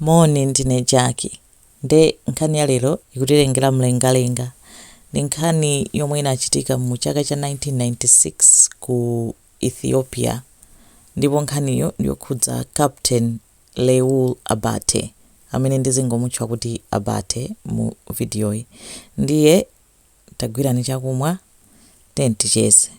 Moni, ndine Jack. Nde nkhani ya lero ikutilengera mlengalenga. Ndi nkhani yomwe inachitika mu chaka cha 1996 ku Ethiopia. Ndipo nkhaniyo ndi yokhudza Captain Leul Abate, amene ndizingomutchula kuti Abate mu vidiyoyi. Ndiye tagwirani chakumwa tiyeni ticheze.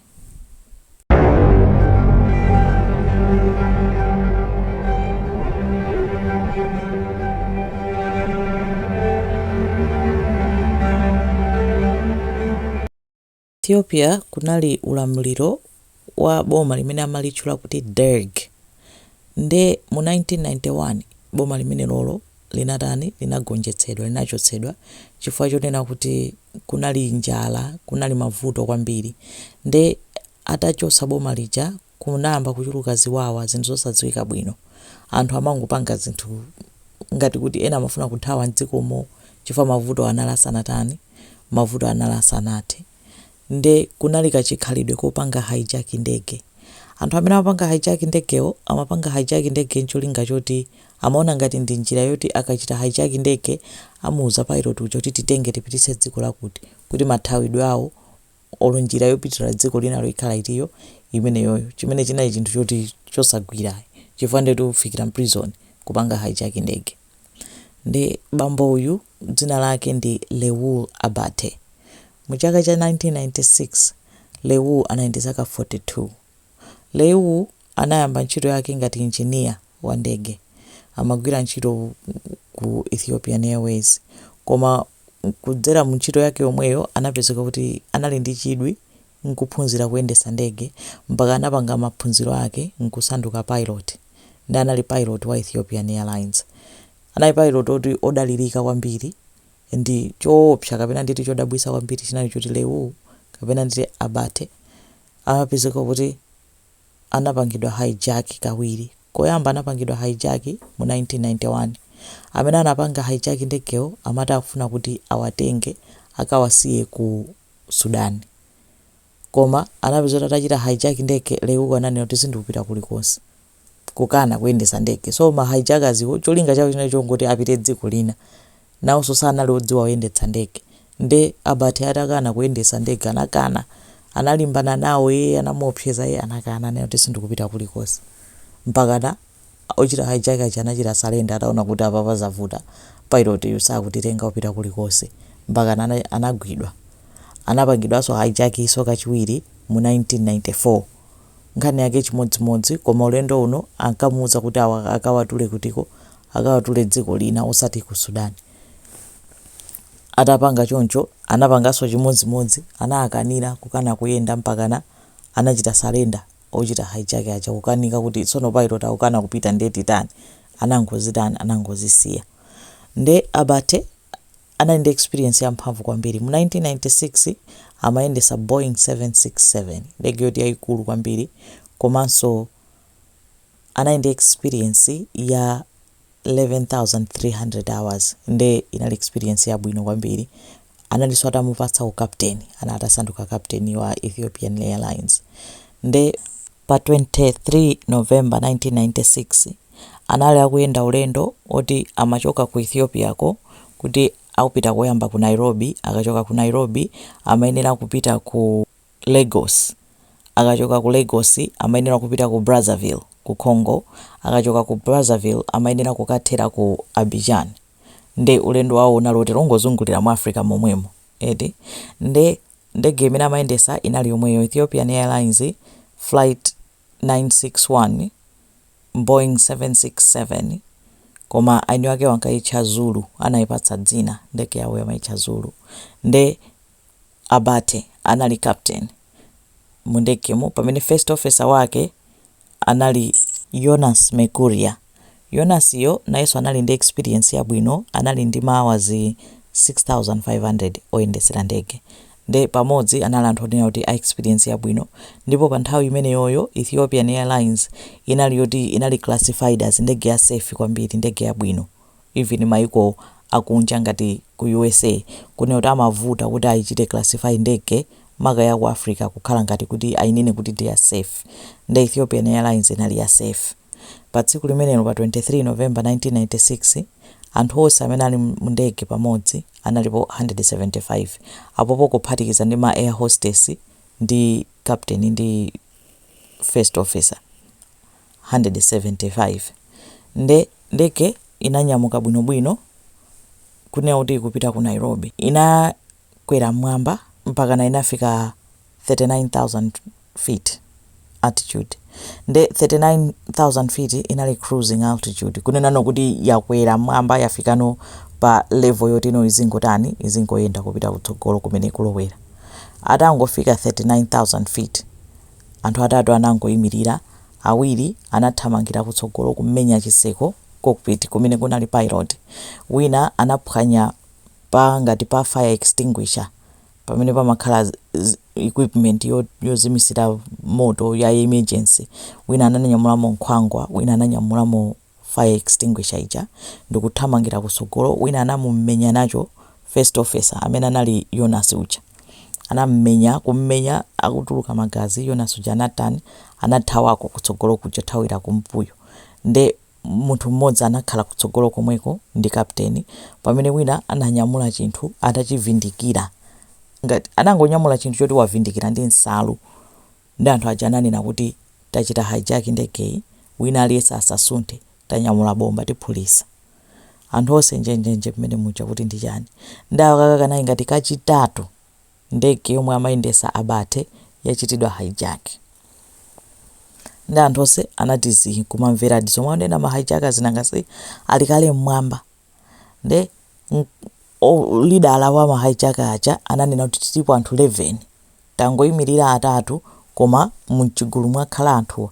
Ethiopia kunali ulamuliro wa boma limene amalitchula kuti Derg nde mu 1991 boma limenelolo linatani linagonjetsedwa linachotsedwa chifukwa chonena kuti kunali njala kunali mavuto kwambiri nde atachotsa boma lija kunayamba kuchuluka ziwawa zinthu zosadziwika bwino anthu amangopanga zinthu ngati kuti ena amafuna kuthawa m'dzikomo chifukwa mavuto anali asanatani mavuto anali asanathe nde kunali kachikhalidwe kopanga hijack ndege. Anthu amene amapanga hijack ndegewo amapanga hijack ndege ncholinga choti amaona ngati ndi njira yoti akachita hijack ndege amuuza pilot uja kuti titenge tipititse dziko lakuti kuti mathawidwe awo olo njira yopitira dziko linalo ikhala itiyo imeneyoyo chimene chinali chinthu choti chosagwira ayi chifukwa ndetu ufikira m'prison kupanga hijack ndege. Nde bambo uyu dzina lake ndi Leul Abate. Mu chaka cha 1996, Leul anali ndi zaka 42. Leul anayamba ntchito yake ngati injiniya wa ndege. Amagwira ntchito ku Ethiopian Airways. Koma kudzera mu ntchito yake yomweyo anapezeka kuti anali ndi chidwi n'kuphunzira kuyendetsa ndege mpaka anapanga maphunziro ake n'kusanduka pilot nde anali pilot wa Ethiopian Airlines. Anali pilot oti odalirika kwambiri and choopsa kapena nditi chodabwitsa kwambiri chinali choti Leul kapena nditi Abate amapezeka kuti anapangidwa hijack kawiri. Koyamba anapangidwa hijack mu 1991. Amene anapanga hijack ndegewo amati afuna kuti awatenge akawasiye ku. Sudan. Koma anapezeka kuti atachita hijack ndege Leul uku ananena kuti sindikupita kulikonse. Kukana kuyendetsa ndege. So ma hijackers wo cholinga chawo chinali chongoti apite dziko lina. Nawonso sanali odziwa kuyendetsa ndege. Nde Abate atakana kuyendetsa ndege anakana. Analimbana nawo ee anamuopseza ee anakana ananena kuti sindikupita kulikonse. Mpakana Ochita hijack aja anachita surrender ataona kuti apapa zavuta, pilot yu sakutitenga kupita kulikonse. Mpakana anagwidwa. Anapangidwanso hijack nso kachiwiri mu 1994. Nkhani yake chimodzimodzi koma ulendo uno ankamuuza kuti awa akawatule kutiko, akawatule dziko lina osati ku Sudan. Atapanga choncho anapanganso chimodzimodzi, anawakanira kukana kuyenda mpakana anachita surrender. ochita hijack aja kukanika kuti tsono pilot akukana kupita nde titani anangozitani anangozisiya nde Abate anali ndi experience ya mphamvu kwambiri mu 1996 amayendesa Boeing 767 ndege yoti yayikulu kwambiri komanso anali ndi experience ya 11,300 hours nde inali experience yabwino kwambiri, analinso atamupatsa u captain anali atasanduka captain wa Ethiopian airlines nde pa 23 November 1996 anali akuyenda ulendo oti amachoka ku Ethiopia ko kuti akupita koyamba ku Nairobi akachoka ku Nairobi amayenera kupita ku. Lagos. Akachoka ku Lagos amayenera kupita ku Brazzaville, ku Congo. Akachoka ku Brazzaville amayenera kukathera ku Abidjan. Nde ulendo wawo unali woti wongozungulira mu Africa momwemo, eti. Nde ndege imene amayendetsa inali yomweyo, Ethiopian Airlines Flight 961, Boeing 767, koma aini wakewo ankayitcha Zulu, anayipatsa dzina, ndege yawoyo amayitcha Zulu. Nde. Abate anali captain mu ndegemo pamene first officer wake anali Yonas Mekuria. Yonas yo nayenso anali ndi experience yabwino anali ndi ma hours 6500 oyendetsera ndege nde pamodzi anali anthu onena kuti a experience yabwino ndipo pa nthawi imeneyoyo Ethiopian airlines inali yoti inali classified as ndege ya safe kwambiri ndege yabwino. even maiko akunja ngati ku usa kunena kuti amavuta kuti aichite classify ndege maka ya ku africa kukhala ngati kuti ainene kuti ndi ya safe nde ethiopian airlines inali ya safe pa tsiku limenelo pa 23 november 1996 anthu onse amene anali mu ndege pamodzi analipo 175 apopo kuphatikiza ndi ma air hostess ndi captain ndi first officer 175 nde ndege inanyamuka bwino bwino kunena kuti ikupita ku Nairobi inakwera mmwamba mpakana inafika 39,000 feet altitude nde 39,000 feet inali cruising altitude kunenano kuti yakwera mmwamba yafikano pa level yotino izingotani izingoyenda kupita kutsogolo kumene ikulowera atangofika 39,000 feet Anthu atatu anangoimirira, awiri anathamangira kutsogolo kumenya chitseko, cockpit, kumene kunali Pilot, wina anaphwanya pa ngati pa fire extinguisher, pamene pamakhala equipment yozimitsira moto ya emergency, wina ananyamulamo nkhwangwa, wina ananyamulamo. fire extinguisher ija ndikuthamangira kutsogolo wina anamumenya nacho first officer amene anali Yonasi uja. Anamumenya kummenya akutuluka magazi Yonasi uja anatan anathawako kutsogolo kuja thawira kumbuyo nde munthu mmodzi anakhala kutsogolo komweko ndi captain pamene wina ananyamula chinthu atachivindikira ngati anangonyamula chinthu choti wavindikira ndi nsalu Nde anthu aja ananena kuti tachita hijack ndegeyi wina aliyense asasunthe tanyamula bomba tiphulisa. Anthu onse njenjenje mmene muja kuti ndi chani. Nde aka kanali ngati kachitatu ndege yomwe amayendesa Abate yachitidwa hijack. Nde anthu onse anati zii kumamvera zomwe akunena ma hijackers zinanga si ali kale mmwamba. nde mm, o- lidala wa ma hijacker aja ananena kuti tilipo anthu 11 tangoyimirira atatu koma mchigulu mwakhala anthuwa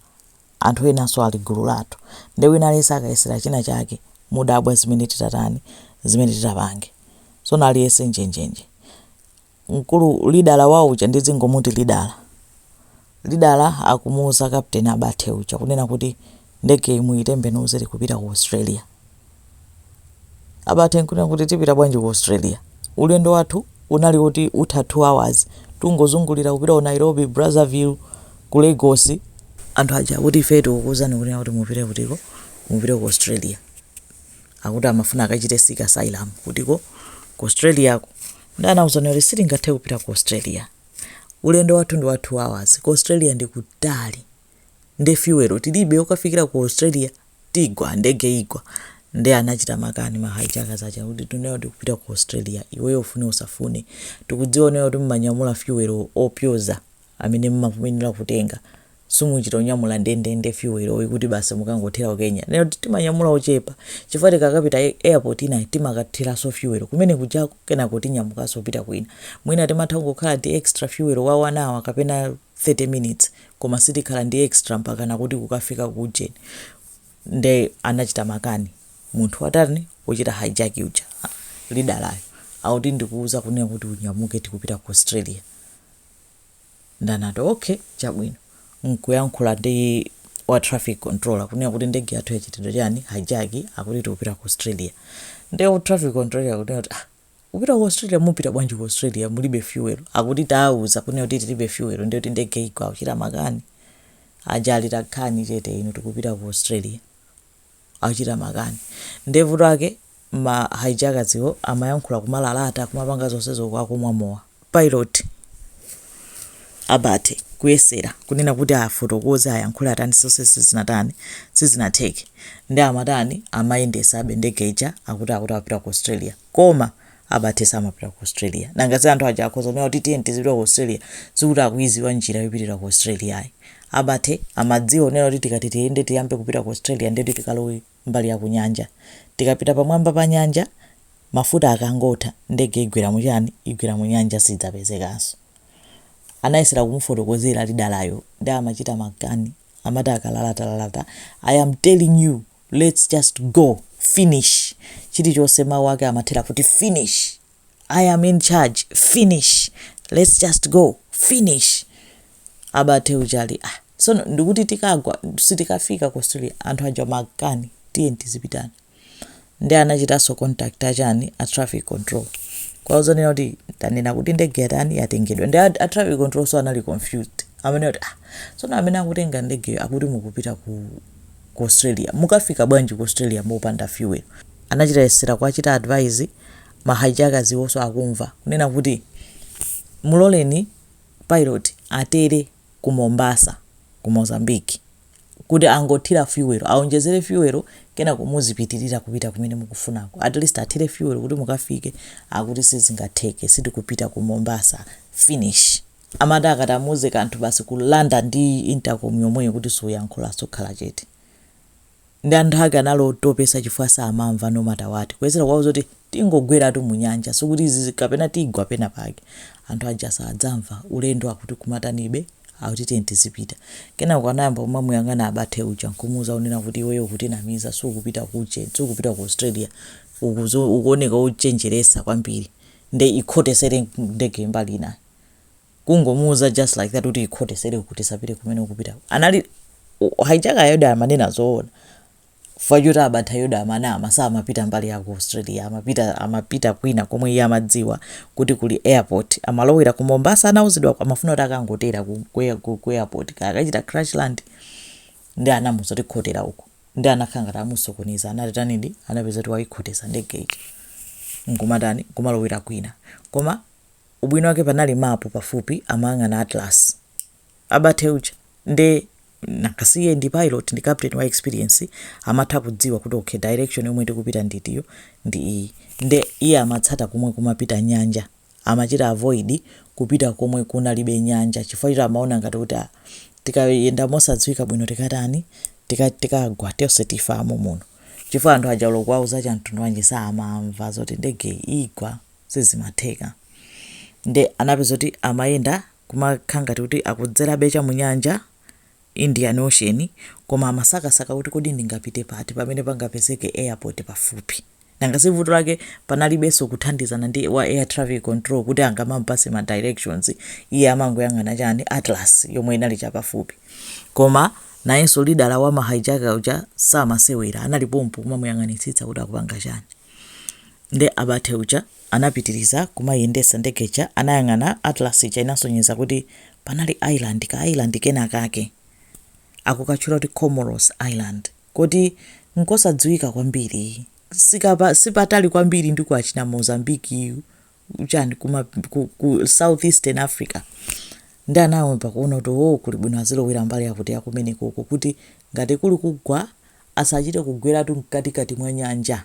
anthu enanso ali gulu lathu nde wina aliyense akayesera china chake mudabwa zimene titatani zimene titapange so aliyense njenjenje mkulu lidala wawo uja ndidzingomuti lidala. Lidala akumuuza captain Abate uja kunena kuti ndegeyi muyitembenuze tikupita ku Australia. Abate nkunena kuti tipita bwanji ku Australia? Ulendo wathu unali oti utha 2 hours tungozungulira kupita ku Nairobi, Brazzaville, ku Lagos. Anthu aja akuti ifeyo tikukuuzani kunena kuti mupite kutiko, mupite ku Australia. Akuti amafuna akachite seek asylum kutiko, ku Australiako. Ndani anakuuzani kuti sitingathe kupita ku Australia? Ulendo wathu ndi wa 2 hours, ku Australia ndi kutali nde fuel tilibe yokafikira ku Australia tigwa, ndege igwa nde anachita makani ma hijackers aja kuti tikunena kuti tikupita ku Australia iweyo ufune usafune tikudziwa kunena kuti mumanyamula fuel opyoza amene mumafunikira kutenga. simuchita kunyamula ndendende fuel oti kuti basi mukangothera ku Kenya ifeyo timanyamula ochepa chifukwa tikakapita airport ina timakathiranso fuel kumene kujako kenako tinyamukanso kupita kwina mwina timatha kungokhala ndi extra fuel wa 1 hour kapena 30 minutes koma sitikhala ndi extra mpakana kuti kukafika ku ujeni nde anachita makani munthu watani wochita hijack uja lidalayo akuti ndikuuza kunena kuti unyamuke tikupita ku Australia Ndanati, Ok, chabwino. Nkuyankhula ndi wa traffic controller kunena kuti ndege yathu yachitidwa chani, hijack, akuti tikupita ku Australia. Nde traffic controller akunena kuti, ah, kupita ku Australia, mupita bwanji ku Australia mulibe fuel? Akuti tawauza kunena kuti tilibe fuel ndiye kuti ndege igwa akuchita makani. Aja ali takhani chete inu tikupita ku Australia. Akuchita makani. Nde vuto lake ma hijackers-wo amayankhula kumalalata kumapanga zonsezo uku akumwa mowa. Pilot Abate kuyesera kunena kuti afotokoze ayankhule, atani, zonse sizinatani sizinatheke nde amatani amayendesabe ndege ija akuti akuti akupita ku Australia koma Abate samapita ku Australia nanga si anthu aja akhoza kunena kuti tiyeni tizipita ku Australia sikuti akuidziwa njira yopitira ku Australia ayi. Abate amadziwa kunena kuti tikati tiyende tiyambe kupita ku Australia ndeti tikalowe mbali ya kunyanja. Tikapita pamwamba pa nyanja, mafuta akangotha, ndege igwera mu chani? Igwera mu nyanja sidzapezekanso. Anayesera kumufotokozera lidalayo nde amachita makani amati akalalatalata, I am telling you lets just go! Finish! Chilichonse mawu ake amathera kuti finish! i am in charge finish lets just go finish Abate uja ali ah sono ndikuti tikagwa sitikafika ku australia anthu aja makani tiye tizipita nde anachitanso contact achani a traffic control kuwauza kunena kuti tanena kuti ndege yatani yatengedwa nde a, a traffic control nso anali confused amvekere kuti ah sono amene akutenga ndegeyo akuti mukupita ku ku australia mukafika bwanji ku australia mopanda fuel anachita kuyesera kuwachita advise ma hijackers iwonso akumva kunena kuti muloleni pilot atere ku Mombasa ku Mozambique kuti angothira fuel awonjezere fuel kenako muzipitirira kupita kumene mukufunako at least athire fuel kuti mukafike akuti sizingatheke sitikupita ku Mombasa finish amati akati amuuze kanthu basi kulanda ndi intercom yomweyo kuti usayankhule uzikhala chete. nde anthu ake anali otopetsa chifukwa samamva no matter what kuyesera kuwauza kuti tingogweratu mu nyanja sikuti izi kapena tigwa pena pake anthu aja samamva ulendo akuti kumatanibe akuti tiye tizipita kenako anayamba kumamuyang'ana Abate uja nkumuuza kunena kuti iweyo ukutinamiza sukupita kuche sukupita ku Australia ukuzo ukuoneka ukuchenjeretsa kwambiri nde ikhotetsere ndege mbali inayi kungomuuza just like that kuti ikhotetsere uku tisapite kumene ukupitako and hijacker-yo amanena zoona chifukwa choti Abate-yo amanama samapita mbali ya ku australia amapita amapita kwina komwe iye amadziwa kuti kuli airport amalowera ku mombasa anauzidwa amafuna kuti akangotera ku, ku, air- ku, ku airport kaya akachite crash land nde anamuuza kuti khotera uku nde anakhala ngati amusokoneza anatanidi anapezeka kuti waikhotetsa ndege ija nkumatani kumalowera kwina koma ubwino wake panali mapu pafupi amayang'ana atlas Abate uja nde nanga si iye ndi pilot ndi captain wa experience amatha kudziwa kuti okay direction yomwe tikupita nditiyo ndi iyi nde iye amatsata komwe kumapita nyanja amachita avoid kupita komwe kunalibe nyanja chifukwa choti amaona ngati kuti ah, tikayenda mosadziwika bwino tikatani tika- tikagwa tonse tifa momuno chifukwa anthu aja olo kuwauza chamtundu wanji samamva zoti ndege igwa sizimatheka nde anapeza kuti amayenda kumakhala ngati kuti akudzerabe cha mu nyanja, Indian Ocean, koma amasakasaka kuti kodi ndingapite pati pamene pangapezeke airport pafupi. Nanga si vuto lake panalibenso kuthandizana ndi wa air traffic control kuti angamamupatse ma directions, iye amangoyang'ana chani, atlas yomwe inali cha pafupi. Koma nayenso leader wa ma hijacker uja samasewera, anali pompo kumamuyang'anitsitsa kuti akupanga chani. Nde Abate uja anapitiliza kumayendesa ndege ija anayang'ana Atlas ija inasonyeza kuti panali island ka island kenakake amakatchula kuti Comoros island koti n'kosadziwika kwambiri sikapa sipatali kwambiri ndi ku achina Mozambique ku chani kuma ku south eastern Africa nde anayamba kuona kuti ooh kuli bwino azilowera mbali yakuti yakumenekoko kuti ngati kuli kugwa asachite kugweratu mkatikati mwa nyanja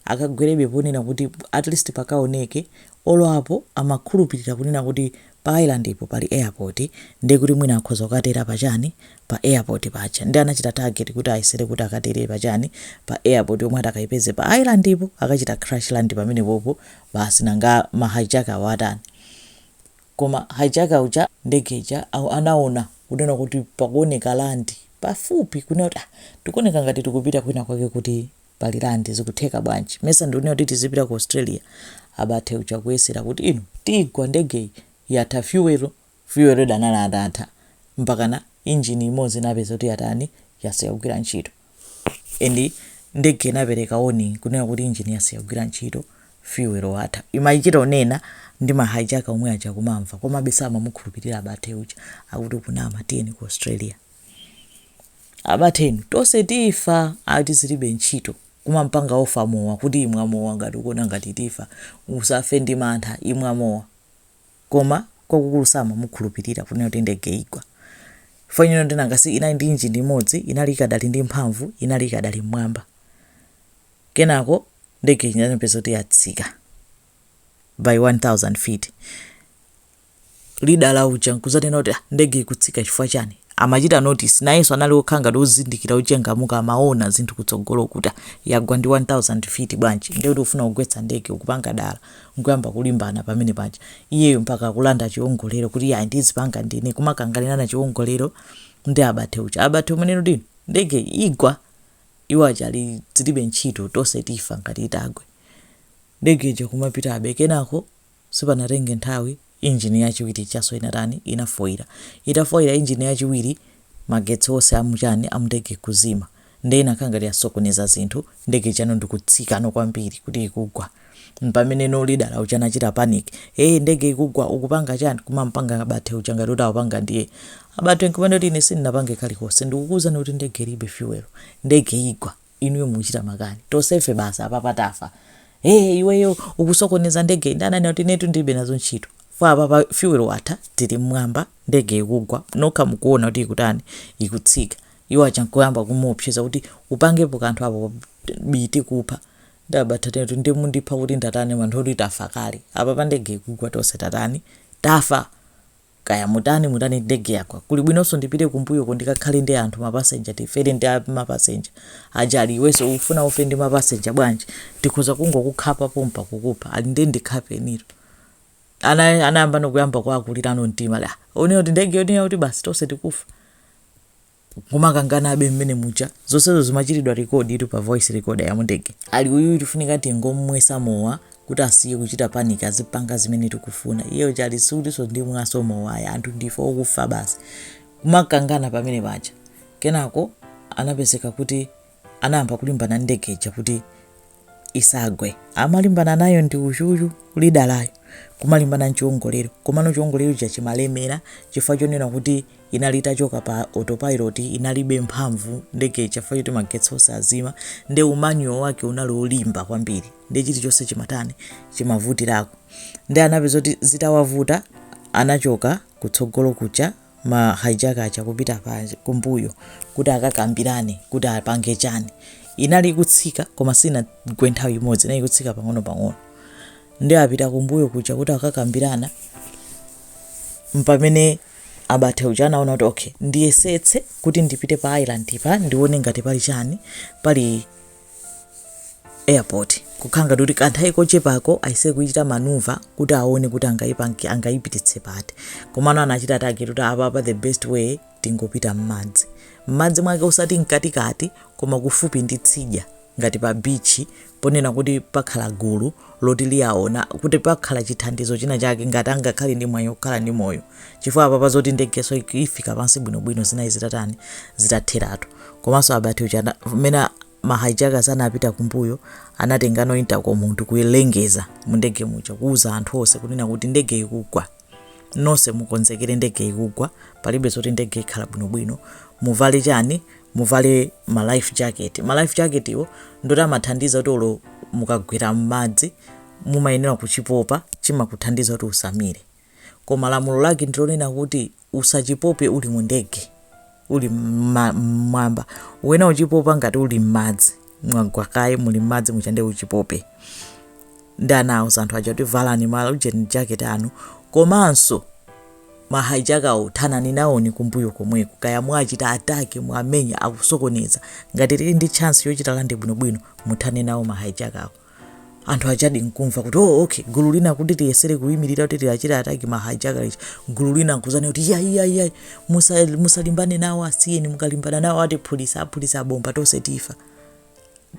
akagwerebe ponena kuti at least pakaoneke olo apo amakhulupirira kunena kuti pa island po pali airport ndiye kuti mwina akhoza kukatera pa chani pa airport paja ndiye anachita target kuti ayesere kuti akatere pa chani pa airport yomwe atakaipeze pa island po akachita crash land pamenepopo basi nanga ma hijacker-wo atani koma hijacker uja ndege ija anaona kunena kuti pakuoneka land pafupi kunena kuti ah tikuoneka ngati tikupita kwina kwake kuti pali land zikutheka bwanji mesa ndikunena kuti tizipita ku Australia Abate uja kuyesera kuti inu tigwa ndegeyi yatha fuel fuel analidi atatha mpakana engine imodzi inapeza kuti yatani yasiya kugwira ntchito and ndege inapereka warning kunena kuti engine yasiya kugwira ntchito fuel watha imachita kunena ndi ma hijacker omwe aja kumamva komabe samamukhulupirira Abate uja akuti ukunama tiyeni ku Australia Abate inu tonse tifa ati zilibe ntchito kumampanga offer mowa kuti imwa mowa ngati ukuona ngati tifa usafe ndi mantha imwa mowa koma kwakukulu samamukhulupirira kunena kuti ndege igwa chifukwa nyuno ndi nanga si inali ndi engine imodzi inali ikadali ndi mphamvu inali ikadali mmwamba kenako ndege ija anapeza kuti yatsika by 1000 feet leader uja nkudzanena kuti ah ndege ikutsika chifukwa chani amachita notice nayenso anali wokhala ngati wozindikira wochangamuka amaona zinthu kutsogolo kuti ah, yagwa ndi 1000 feet bwanji ndiye kuti ufuna kugwetsa ndege ukupanga dala nkuyamba kulimbana pamene paja iyeyo mpaka akulanda chiwongolero kuti ayi ndizipanga ndine kumakanganirana chiwongolero ndi Abate uja Abate kumanena kuti no ndege igwa iwo aja ali zilibe ntchito tonse tifa ngati itagwe ndege ija kumapitabe kenako Sipanatenge nthawi, injini yachiwiri ijanso inatani? Inafoira. Itafoira injini yachiwiri, magetsi onse a mu chani? A mundege kuzima. Ndiye inakhala ngati yasokoneza zinthu, ndege ijano ndi kutsikano kwambiri kuti ikugwa. Mpamene no leader uja anachita panic. Hey, ndege ikugwa, ukupanga chani? Kumamupanga Abate uja ngati kuti awapanga ndiye. Abate nkumanena kuti ine sindinapange kalikonse. Ndikukuuzani kuti ndege ilibe fuel. Ndege igwa. inuyo mukuchita makani tonsefe basi apapa tafa ee iweyo ukusokoneza ndege nde ananena kuti inetu ndilibe nazo ntchito fo apapa fuel watha tili mmwamba ndege ikugwa nokha mukuona kuti ikutani ikutsika iwo aja nkuyamba kumuopseza kuti upangepo kanthu apo bii tikupha nde Abate ananena kuti ndiye mundipha kuti ndatani anthu oti tafa kale apapa ndege ikugwa tonse tatani tafa Kaya mutani mutani ndege yagwa. Kuli bwinonso ndipite kumbuyoko ndikakhale ndi anthu ma passenger tifere ndi ma passenger aja ali iwenso ukufuna ufe ndi ma passenger bwanji? Ndikhoza kungokukhapa pompa kukupha. Ali nde ndikhapenitu. Ana anayambano kuyamba kuwakulirano mtima ali ah! Uone kuti ndege yoti yakuti basi tonse tikufa. kumakanganabe mmene muja zonsezo zimachitidwa record itu pa voice recorder ya mundege. Ali uyuyu tifunika tingom'mwesa mowa kuti asiye kuchita panic azipanga zimene tikufuna. Iye uja ali sikutinso ndimwanso mowa ayi anthu ndife okufa basi. Kumakangana pamene paja. Kenako anapezeka kuti anayamba kulimbana ndi ndege ija kuti isagwe. Amalimbana nayo ndi uyuyu, leader yo, kumalimbana n'chiwongolero. Komano chiwongolero chija chimalemera chifukwa chonena kuti inali itachoka pa autopilot, inalibe mphamvu ndege ija chifukwa choti magetsi onse azima, nde umanual wake unali wolimba kwambiri, nde chilichonse chimatani, chimavutirako. Nde anapeza kuti zitawavuta, anachoka kutsogolo kuja. ma hijacker aja kupita pa kumbuyo kuti akakambirane kuti apange chani inali ikutsika koma sinagwe nthawi imodzi inali ikutsika pang'ono pang'ono nde apita kumbuyo kuja kuti akakambirana mpamene Abate uja anaona kuti okay ndiyesetse kuti ndipite pa island pa ndione ngati pali chani pali airport kukhala ngati kuti kanthawi kochepako ayese kuchita maneuver kuti aone kuti angaipange angaipititse pati komano anachita target kuti apapa the best way tingopita m'madzi m'madzi mwake osati mkatikati koma kufupi ndi tsidya ngati pa beach ponena kuti pakhala gulu loti liawona kuti pakhala chithandizo china chake ngati angakhale ndi mwayi okhala ndi moyo chifukwa apapa pazoti ndegeso ifika pansi bwinobwino zinayi zitatani zitatheratu komanso Abate uja mmene ma hijackers anapita kumbuyo anatengano intercom ndi kulengeza mu ndege muja kuuza anthu onse kunena kuti ndege ikugwa nonse mukonzekere ndege ikugwa palibe zoti ndege ikhala bwinobwino muvale chani muvale ma life jacket, ma life jacket wo ndi oti amathandiza kuti olo mukagwera mmadzi mumayenera kuchipopa chimakuthandiza kuti usamire koma lamulo lake ndilonena kuti usachipope uli mu ndege, uli mmwamba, ukuyenera kuchipopa ngati uli mmadzi. mwagwa kaye muli m'madzi muja nde uchipope nde anauza anthu aja kuti valani ma life jacket anu komanso mahaijakawo thanani nawoni kumbuyo komweko kawachiteni ataki muwamenye akusokoneza ngati tili ndi chance yochita land bwinobwino muthane nawo mahaijakawo anthu ajadi nkumva kuti oh, okay gulu lina kuti tiyesere kuyimirira kuti tiachite ataki ma hijacker ichi gulu lina nkudzati kuti ya ya ya musa- musalimbane nawo asiyeni mukalimbana nawo atiphulitsa aphulitsa bomba tonse tifa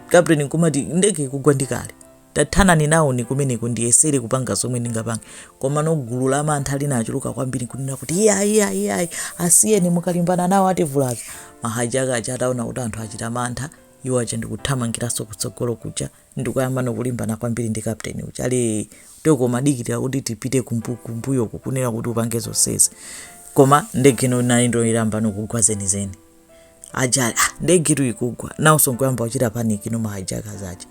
kapteni nkumati ndege ikugwa ndi kale tathanani nawoni kumeneko ndiyesere kupanga zomwe ndingapange komano gulu la mantha linachuluka kwambiri kunena kuti iyayi iyayi iyayi asiyeni mukalimbana nawo ativulaza mahaijaka aja ataona kuti anthu achita mantha Iwo aja ndikuthamangiranso kutsogolo kuja ndikuyambano kulimbana kwambiri ndi captain uja ali oho umadikilira kuti tipite kumbu kumbuyo uku kunena kuti upange zonsezi koma ndege nonayo ndiyo yayambano kugwa zenizeni aja ali ah ndegitu ikugwa nawonso nkuyamba kuchita panic no ma hijackers aja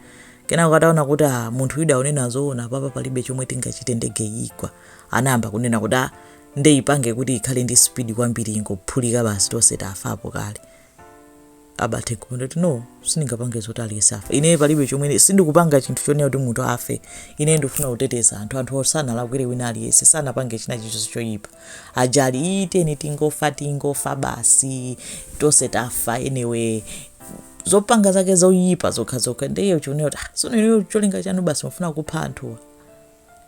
kenako ataona kuti ah munthuyu akunena zoona apapa palibe chomwe tingachite ndegeyi igwa anayamba kunena kuti ah nde ipange kuti ikhale ndi speed kwambiri ingophulika basi tonse tafapo kale Abate kunena kuti no sindingapange zoti aliyense afa ine palibe chomwe sindikupanga chinthu chonena kuti munthu afe ine ndifuna kuteteza anthu anthu sanalakwire wina aliyense sanapange china chilichonse choyipa aja ali chiteni tingofa tingofa basi tonse tafa anyway zopanga zake zoyipa zokhazokha ndiye chonena kuti ah, tsono inuyo cholinga chanu basi mufuna kupha anthuwa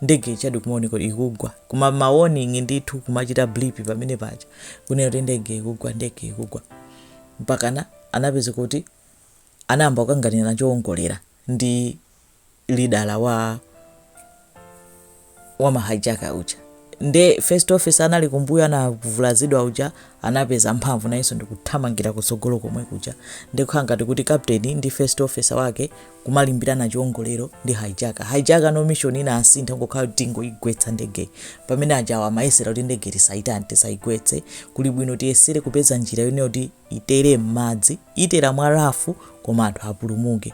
ndege ijadi kumaoneka kuti ikugwa kuma ma warning ndithu kumachita blip pamene paja kunena kuti ndege ikugwa ndege ikugwa mpakana anapeza kuti anayamba kukanganirana chowongolera ndi leader wa wa mahaijaka uja nde first officer anali kumbuyo anavulazidwa uja anapeza mphamvu nayenso ndikuthamangira kutsogolo komwe kuja ndikukhala ngati kuti captain ndi first officer wake kumalimbirana chiwongolero ndi hijacker hijacker no mission inasintha kungokhala kuti tingoigwetsa ndegeyi pamene ajawa amayesera kuti ndege tisaitani tisaigwetse kuli bwino tiyesere kupeza njira yonena kuti itere m'madzi itere mwa rafu koma anthu apulumuke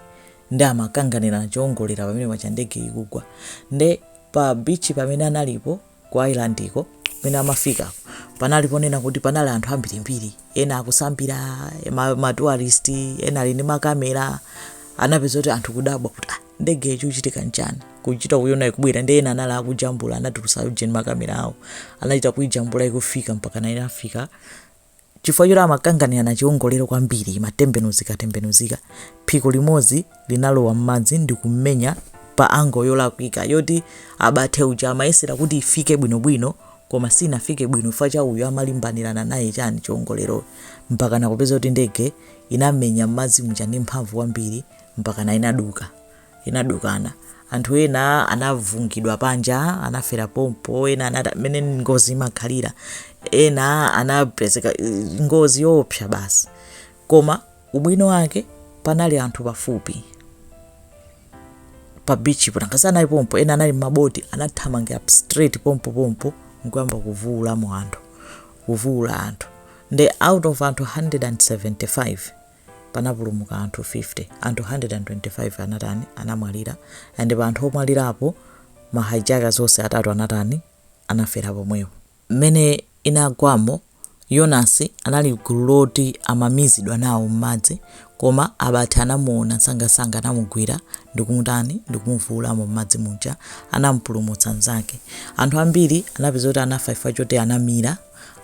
nde amakanganirana chiwongolero pamene paja ndege ikugwa nde pa bichi pamene analipo Ku Ireland ko, kumene amafikako, panali poonekera kuti panali anthu ambirimbiri, ena akusambira, ma ma tourist, ena ali ndi ma camera, anapeza kuti anthu kudabwa kuti ah ndegeyo chikuchitika n'chani, kuchita kuiona ikubwera ndiye ena anali akujambula, anatulutsa ujeni ma camera awo, anachita kuijambula ikufika mpakana inafika Chifukwa choti amakanganirana chiwongolero kwambiri, imatembenuzikatembenuzika, phiko limodzi linalowa m'madzi ndi kumenya pa angle yolakwika yoti Abate uja amayesera kuti ifike bwinobwino koma sinafike bwino chifukwa cha uyu amalimbanirana naye chani chiwongolero mpakana kupeza kuti ndege inamenya m'madzi muja ndi mphamvu kwambiri mpakana inaduka. inadukana. Anthu ena anavungidwa panja, anafera pompo, ena nanga mmene ngozi imakhalira, ena anapezeka ngozi yoopsa basi. Koma ubwino wake panali anthu pafupi pa beach po nanga si anali pompo, ena anali m'maboti, anathamangira straight pompo pompo nkuyamba kuvuulamo anthu, kuvuula anthu nde out of anthu 175 panapulumuka anthu 50, anthu 125 anatani, anamwalira and pa anthu omwalirapo ma hijackers onse atatu anatani, anafera pomwepo. Mmene inagwamo, Yonasi anali mgulu loti amamizidwa nawo mmadzi koma Abate anamuona nsangansanga anamugwira ndikumutani, ndikumuvuulamo mmadzi muja, anamupulumutsa nzake. Anthu ambiri anapeza kuti anafa chifukwa choti anamira.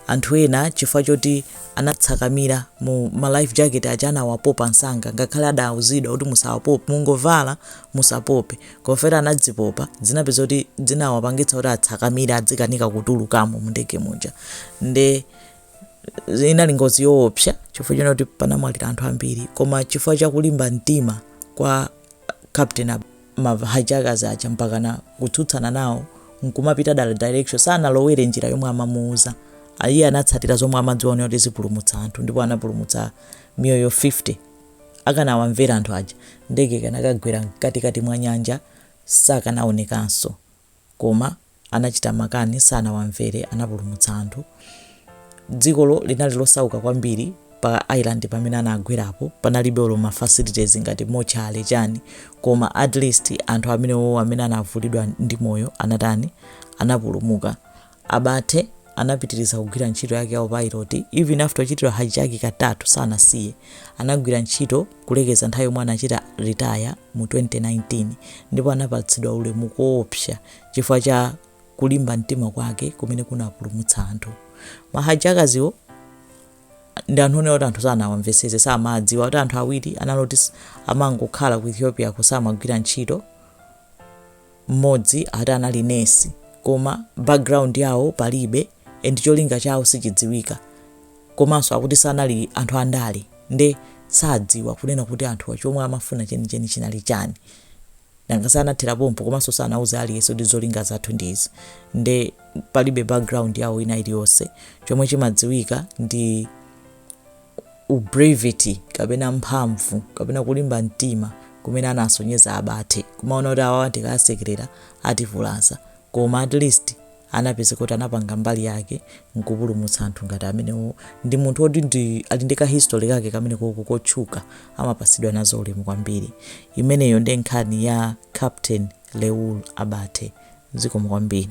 Anthu ena chifukwa choti anatsakamira mu ma life jacket aja anawapopa nsanga ngakhale adawuzidwa kuti musawapope mungovala musapope kofera anazipopa zinapeza kuti zinawapangitsa kuti atsakamire adzikanika kutulukamo mu ndege muja nde inali ngozi yoopsa chifukwa chonena kuti panamwalira anthu ambiri koma chifukwa cha kulimba mtima kwa Captain ma hijackers aja mpakana kutsutsana nawo nkumapita dala direction sanalowere njira yomwe amamuuza iye anatsatira zomwe amadziwa zonena kuti zipulumutsa anthu ndipo anapulumutsa miyoyo 50 akanawamvera anthu aja ndege ikanakagwera mkatikati mwa nyanja sakanaonekanso koma anachita makani, sanawamvere, anapulumutsa anthu. Dzikolo linali losauka kwambiri pa island pamene anagwerapo panalibe olo ma facilities ngati mortuary chani koma at least anthu amene wowo amene anavulidwa ndi moyo anatani anapulumuka Abate anapitiriza kugwira ntchito yake ya upilot even after ochitidwa hijack katatu sanasiye anagwira ntchito kulekeza nthawi yomwe anachita retire mu 2019 ndipo anapatsidwa ulemu koopsa Chifukwa cha kulimba mtima kwake kumene kunapulumutsa anthu. Ma hijackers-wo ndi anthu onena kuti anthu sanawamvetsetse, samawadziwa kuti anthu awiri anali oti s- amangokhala ku Ethiopia-ko samagwira ntchito. Mmodzi ati anali nesi koma background yawo palibe and cholinga chawo sichidziwika. Komanso akuti sanali anthu andale nde sadziwa kunena kuti anthuwa chomwe amafuna chenicheni chinali chani. Nanga si anathera pompo komanso sanauza aliyense kuti zolinga zathu ndi izi nde palibe background yawo ina iliyonse. Chomwe chimadziwika ndi ubravity kapena mphamvu kapena kulimba mtima kumene anasonyeza Abate kumaona kuti awawa ndikawasekelera ativulaza. koma at least anapezeka kuti anapanga mbali yake nkupulumutsa anthu ngati amenewo ndi munthu otidi ali ndi ka history kake kamene koko kotchuka amapatsidwa nazo ulemu kwambiri imeneyo ndi nkhani ya captain leul abate zikomo kwambiri